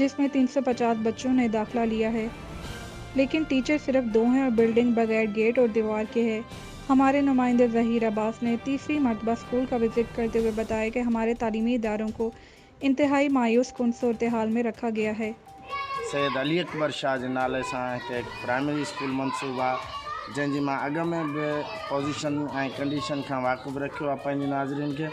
جس مين تين سو پچاس بچو نئي داخلا ليا هي ليڪن ٽيچر صرف دو هين اور بلڊنگ بغير گيٽ اور ديوار ڪي هي هماري نمائندي ظهير عباس ني تيسري مرتبه اسڪول ڪا وزيٽ ڪرتي هوئي بتايا ڪي هماري تعليمي ادارو ڪو انتهائي مايوس ڪن صورتحال مين رکا گيا هي. سيد علي اڪبر شاهه جي نالي سان هتي هڪ پرائمري اسڪول منسوب آ جنهن جي مان اڳ مين به پوزيشن ۽ ڪنڊيشن کان واقف رکيو آ پنهنجي ناظرين کي.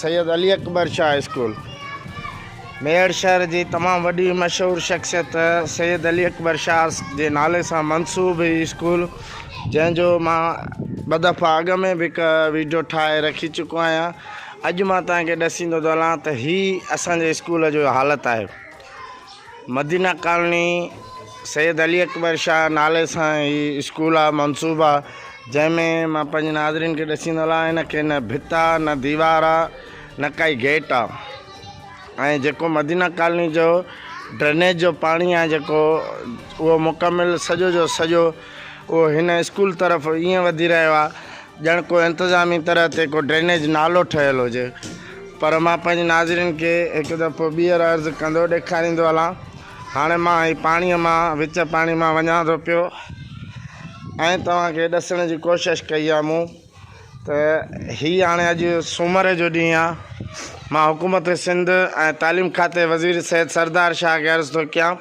سيد علي اڪبر شاهه اسڪول ميهڙ شهر جي تمام وڏي مشهور شخصيت سيد علي اڪبر شاهه جي نالي سان منسوب هي اسڪول جنهن جو مان ٻه دفعا اڳ ۾ به هڪ ويڊيو ٺاهي رکي چڪو آهيان اڄ مان توهان کي ڏسيندو ٿو هلان ته هي اسان جي اسڪول جو حالت آهي مدينه ڪالني سيد علي اڪبر شاهه نالي سان هي اسڪول آ منصوب آ جنهن ۾ مان پنهنجي ناظرين کي ڏسي نلا هن کي نه ڀت آ نه ديوار آ نه ڪائي گيٽ آ ۽ جيڪو مدينه ڪالني جو ڊرينيج جو پاڻي آ جيڪو اهو مڪمل سڄو جو سڄو اهو هن اسڪول طرف ائين وڌي رهيو آهي ڄڻ ڪو انتظامي طرح تي ڪو ڊرينيج نالو ٺهيل هجي پر مان پنهنجي ناظرين کي هڪ دفعو ٻيهر عرض ڪندو ڏيکاريندو هلان هاڻي مان هي پاڻي مان وچ پاڻي مان وڃان ٿو پيو ۽ توهان کي ڏسڻ جي ڪوشش ڪئي آهي مون ته هي هاڻي اڄ سومر جو ڏينهن آ مان حڪومت سنڌ ۽ تعليم کاتي وزير سيد سردار شاهه کي عرض ٿو ڪيان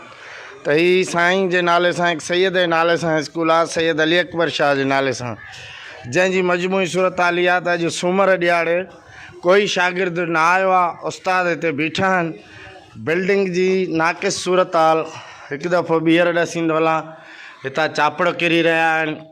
ته هي سائين جي نالي سان هڪ سيد جي نالي سان اسڪول آ سيد علي اڪبر شاهه جي نالي سان جنهن جي مجموعي صورتحال اها ته اڄ سومر ڏيهاڙي ڪوئي شاگرد نه آيو آ استاد هتي بيٺا آهن بلڊنگ جي ناقص صورتحال هڪ دفعو ٻيهر ڏسيندو هلان هتان چاپڙ ڪري رهيا آهن